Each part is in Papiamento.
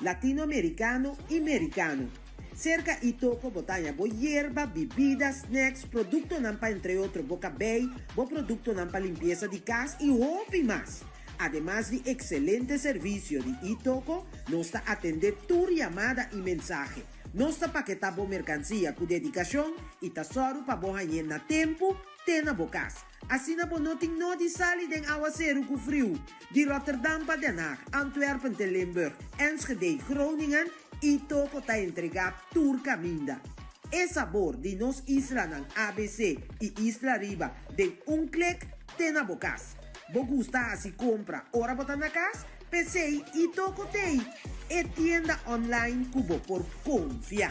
Latinoamericano y Mericano. Cerca y toco bo taña bo yerba, bibida, snacks, productonan pa entre otro bo cabey, bo productonan pa limpieza di cas y hopi mas. Ademas di excelente servicio di y toco, nos ta atende tur yamada y mensahe. Nos ta paketa bo mercancia cu dedicacion y ta sorgo pa bo hañ'e na tempo te na bo cas. Asina bo no tin nodi sali den awaseru ku friu di Rotterdam pa Den Haag, Antwerpen te Limburg, Enschede, Groningen i toko ta entregá tur kaminda. E sabor di nos islanan abc i isla riba den un klik te na bo kas. Bo gusta hasi kompra ora bo ta na kas? P'esei i toko t'ei e tienda online ku bo por konfia.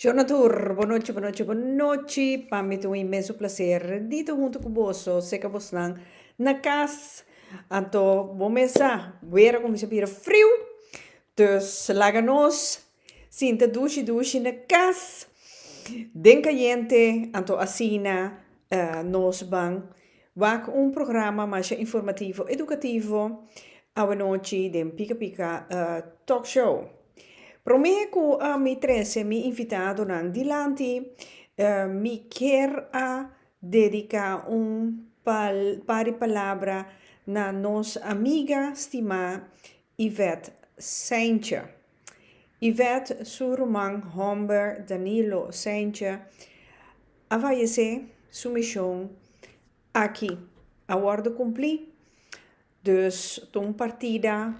Shona tur, bonochi, bonochi, bonochi. Pa mi ta un inmenso placer di ta hunto cu boso, sea ca bosnan na cas, anto bo mes sa, wer a cuminsa bira friu, dus laga nos sinta dushi, dushi na cas, den cayente, anto asina nos ban. Wak un programa masha informativo edukativo awanochi den Pika Pika Talk Show. Promé ku mi trese mi invitadonan dilanti, mi kier a dediká un par di palabra na nos amiga stimá Yvette Saintje. Yvette, su ruman homber Danilo Saintje a fayesé, su mishon aki a wòrdu kumplí. Dus ta un partida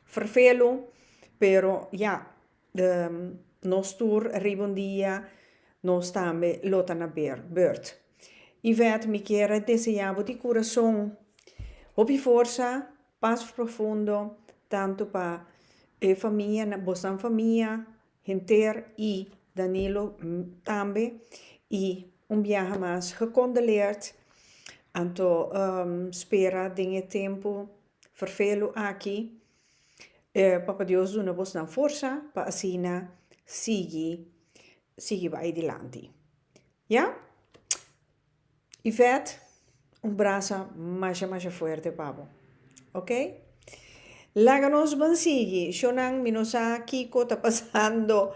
ferfelu, pero ya, nos tur riba un dia nos tambe lo ta na bèr, burt. Yvette, mi kier a deseá bo di kurason hopi forsa Pas profundo tanto pa e famia nan bosan famia henter y Danilo tambe y un biaha mas gecondoleerd anto spera den e tempo vervelu aki Papa Dios duna bos nan forsa pa asina sigui sigui bay dilanti ya. Yvette un brasa masha masha fuerte pa bo ok laga nos ban sigui shonan mi no sa kiko ta pasando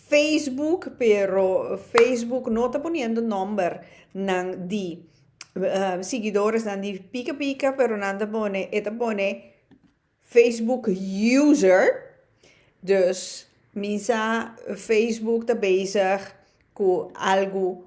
Facebook pero Facebook no ta poniendo number nan di siguidores nan di pika pika pero nan ta pone e ta pone Facebook user dus mi sa Facebook ta bezig cu algo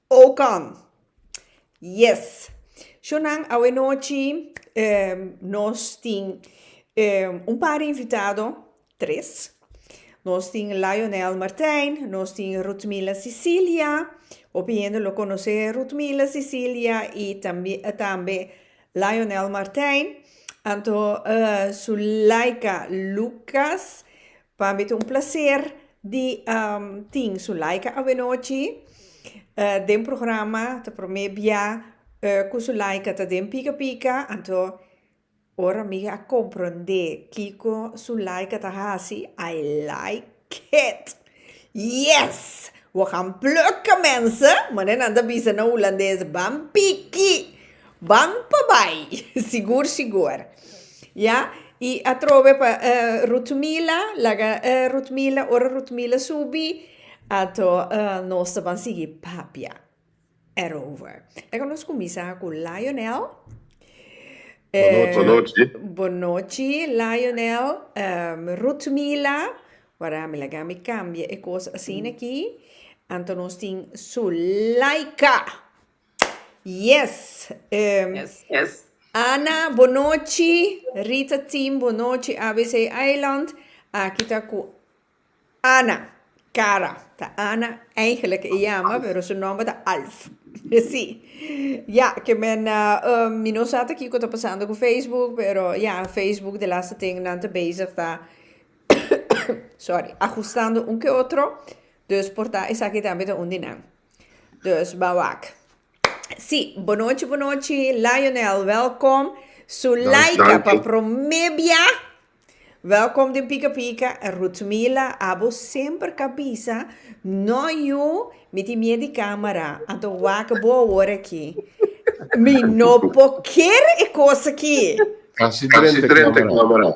Oh come! Yes! Sho nan, awe nochi nos tin un par invitado, tres. Nos tin Lionel Martijn, nos tin Rutmila Cecilia, hopi hende lo conoce Rutmila Cecilia y tambi tambe Lionel Martijn, anto Zulaika Lucas, Pa mi ta un placer di tin Zulaika awenochi den programa. Ta prome bia cu Zulaika ta den Pika Pika. Anto ora mi a compronde kico Zulaika ta haci, I like it! Yes! We gaan plukken mensen! Manera nan ta bisa na Hulandes, ban piki! Ban pa bai, sigur sigur. Ya, i atrobe pa Rutmila, laga Rutmila, ora Rutmila subi, ato nos ta ban sigui papia erover. Laga nos kuminsá ku Lionel. Bonochi. Bonochi, Lionel, Rutmila, wara mi laga mi kambia e kos asin aki, anto nos tin Sulaika. Yes! Ana, bo nochi. Rita Team, bo nochi. ABC Eiland, aki ta cu Ana Cara. Ta Ana, eigenlijk e jama, pero su nomber ta Alf. Sí. Ya, ke men, mi no sa ta kiko ta pasando cu Facebook, pero ya, Facebook de laster tin nan ta bezig ta, sorry, ajustando un ke otro, dus por ta esaki tambe ta un di nan. Dus ba wak. Sí, bonochi bonochi Lionel, welkom. Sulaika pa promé bia. Welkom den Pika Pika. Ruth Mila, abo semper ka bisa no yu mi tin mier di camera, anto wak bo awor aki. Mi no por ker e cos aki. Casi drenta camera.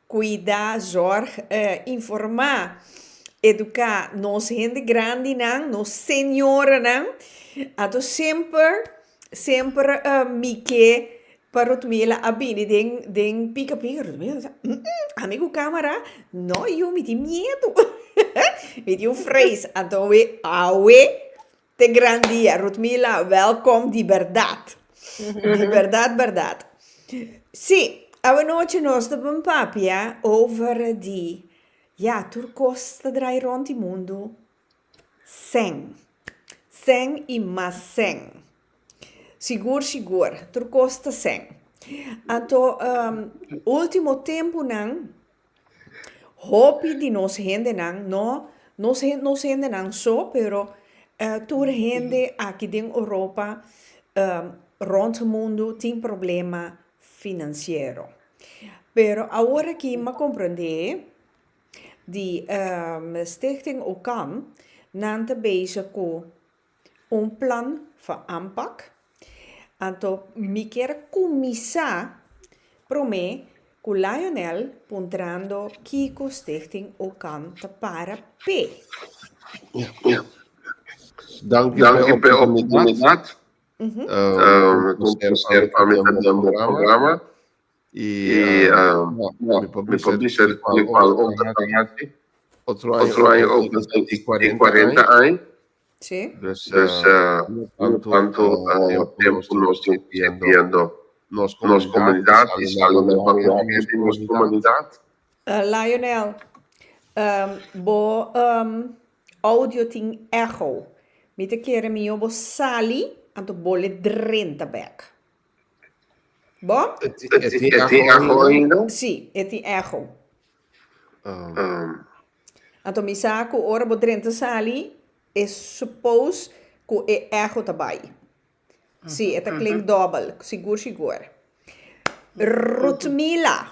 Cuida, zorg, informa, educa nos hende grandi nan, nos señora nan. Anto semper semper mike pa Rutmila a bini den den pica pica Rutmila a sa ¡Hm! Ami cu camera? No yu mi tin miedu mi tin vrees anto awe awe. Te gran dia Rutmila welkom di berdad di berdad berdad si awanochi nos ta bin papia over di ya tur kos ta drai rond di mundo sèn sèn i mas sèn sigur sigur tur kos ta sèn anto ultimo tempunan. Hopi di nos hendenan, no nos hen nos hendenan so, pero tur hende aki den Oropa, rond mundu tin problema financiero. Pero aworakí m'ha komprendé di Stichting Occam, nan ta bezig ku Un plan for aanpak. Anto mi kier kuminsá promé ku Lionel puntrando kiko Stichting Okan ta para p'e. Danki p'e oportunidat. Konta ku serba pa mi ta den bo programa. Y mi por bisa di cual hopi ta tan aki. Otro aña hopi ta tin y cuarenta aña. Pues no tanto tempo cu nos tin sirbiendo nos comunidad y sali na vanguardia di nos comunidad. Lionel, bo audio tin echo. Mi ta kere mijo bo sali anto bo le drenta bek. Bo? E tin echo ainda? Sí, e tin echo. Anto mi sa cu ora bo drenta sali, e suppose cu e echo ta bai. Sí, e ta klink dobel, sigur sigur. Rudmila.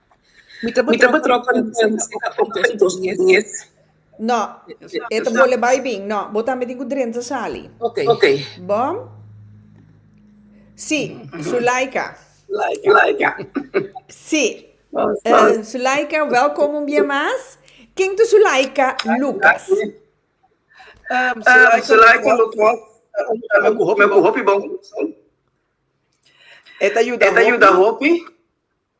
Mi ta batròp tròp kontentu si ta opt den dos di es. No, e ta bole bai bin. No, bo tambe tin ku drenta sali. Ok. Bo? Si, Zulaika. Zulaika. Si. Zulaika, wèlkom un bia mas. Ken ta Zulaika Lukas? Zulaika Lukas ta yuda mi ku hopi bon kurason. E ta yuda hopi.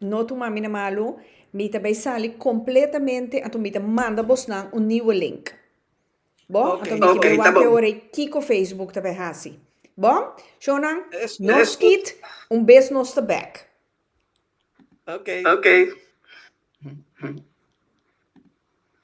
No tuma mi na malu, mi ta bay sali completamente anto mi ta manda bosnan un nieuwe link. Bo, anto mi kier bay wak e ora ei kiko Facebook ta bay haci. Bo, shownan, no skit, un bes nos ta back. Ok.